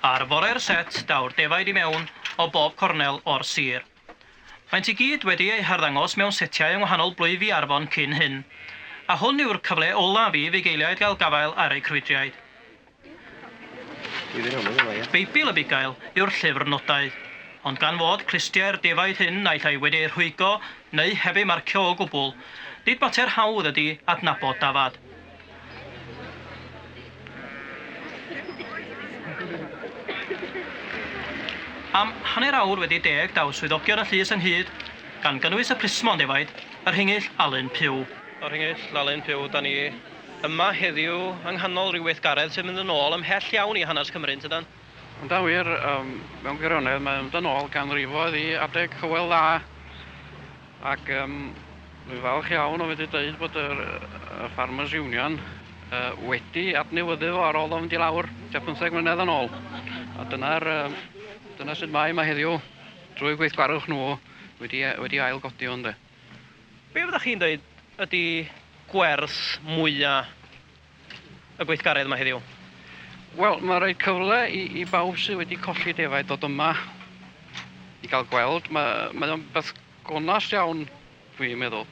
Ar fore'r set daw'r defaid i mewn o bob cornel o'r sir. Maent i gyd wedi eu harddangos mewn setiau yng ngwahanol blwyfi Arfon cyn hyn, a hwn yw'r cyfle olaf i fugeiliaid gael gafael ar eu crwydriaid. Beibl y Bugail yw'r llyfr nodau, ond gan fod clustiau'r defaid hyn naill ai wedi eu rhwygo neu heb eu marcio o gwbl, nid mater hawdd ydy adnabod dafad. Am hanner awr wedi deg daw swyddogion y llys ynghyd, gan gynnwys y plismon defaid, y Rhingyll Alun Pugh. Y Rhingyll Alun Pugh, 'da ni yma heddiw yng nghanol rhyw weithgaredd sy'n mynd yn ôl ymhell iawn i hanes Cymru, yn tydan? Yn anghywir, mewn gwirionedd, mae'n mynd yn ôl ganrifoedd i adeg Hywel Dda ac dwi'n falch iawn o fedru dweud bod yr Farmers Union wedi adnewyddu fo ar ôl o fynd i lawr tua pymtheg mlynedd yn ôl. A dyna'r dyna sut mae yma heddiw drwy gweithgarwch nhw wedi wedi ailgodi hwn de. Be' fyddech chi'n dweud ydi gwers mwya y gweithgaredd yma heddiw? Wel, mae'n rhoi cyfle i, i bawb sydd wedi colli defaid dod yma i gael gweld. Mae, mae o'n beth gonas iawn, dwi'n meddwl.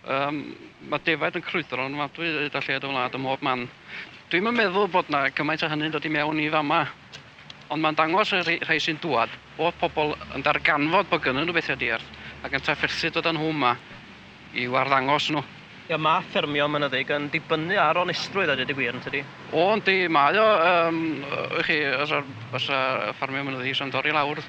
Um, mae defaid yn crwydro yn wadwy hyd a lled y wlad ym mhob man. Dwi'n meddwl bod yna gymaint o hynny'n dod i mewn i fama Ond mae'n dangos y rhai sy'n dŵad bod pobl yn darganfod bod gynnyn nhw bethau diarth ac yn trafferthu dod â nhw yma. i'w arddangos nhw. Ie, mae ffermio mynyddig yn dibynnu ar onestrwydd a dweud y gwir, yn tydi? O, yndi, mae o. Yym, ych chi, os fysa ffermio mynyddig isio mynd i lawr,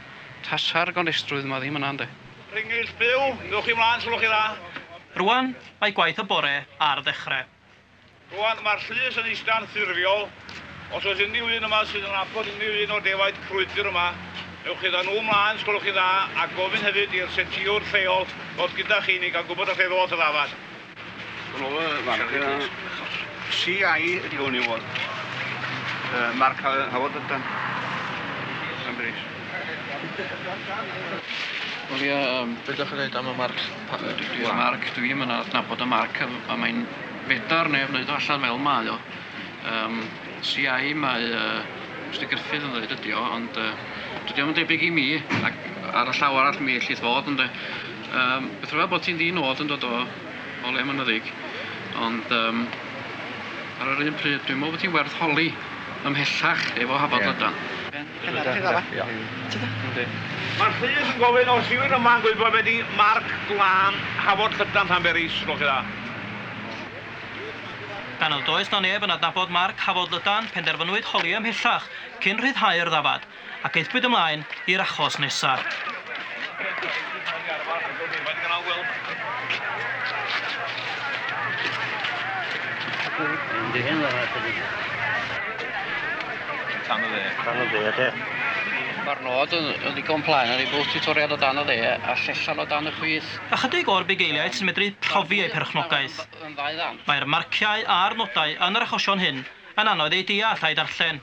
tasa'r gonestrwydd yma ddim yna, ynde. Rhingyll byw, ewch chi mlaen os gwelwch chi'n dda. Rwan, mae gwaith y bore ar ddechrau. Rwan, mae'r llys yn eistedd anffurfiol. Os oes unrhyw un yma sydd yn nabod unrhyw un o defaid crwydr yma, ewch gyda nhw ymlaen, os gwelwch chi'n dda, a gofyn hefyd i'r setiwr lleol ddod gyda chi i ni gael gwybod a lle ddoth y ddafad. Hwn oedd y fan. CI ydi hwn i fod. Uh, Mark Howard ydan. Yn bris. Wel ie, um, beth ydych chi'n dweud am y marc? Pam dwi 'di dweud marc? Dwi 'im yn adnabod y marc yym a mae'n fedar neb neud o allan fel mae o. Yym CI mae yy Mister Gruffydd yn ddeud ydi o ond yy dydi o'm yn debyg i mi ac ar y llaw arall mi ellith fod ynde. Yym beth rwyf bod ti'n ddi nod yn dod o o le mynyddig ond yym ar yr un pryd dwi'n meddwl bod ti'n werth holi ymhellach efo Hafod Lydan. Dyna fe, dyna fe. Yndi. Mae Rhys yn gofyn os yw'r yma yn gwybod be di marc glân Hafod Llydan Llanberis? Gloch chi dda. Gan nad oes na neb yn adnabod marc Hafod Lydan, penderfynwyd holi ymhellach cyn rhyddhau'r ddafad, ac aethpwyd ymlaen i'r achos nesa. Tan y dde. Tan y dde, te. Mae'r nod yn ddigon plaen yn ei bod tiwtoriad o dan y dde a llesiant o dan y chwith. Ychydig o'r bugeiliaid sy'n medru profi eu perchnogaeth. Mae'r marciau a'r nodau yn yr achosion hyn yn anodd eu deall a'u darllen.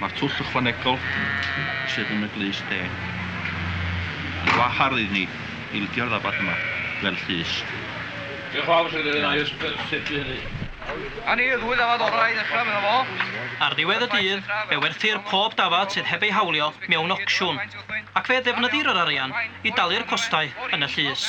Mae'r twll ychwanegol sydd yn y glust de yn wahardd i ni ildio'r ddafad yma fel llys. Diolch yn fawr, Sir Fôn, i'r cynllun hynny. A ni y ddwy ddafad orau i ddechrau, medda fo. Ar ddiwedd y dydd, fe werthir pob dafad sydd heb ei hawlio mewn ocsiwn, ac fe ddefnyddir yr arian i dalu'r costau yn y llys.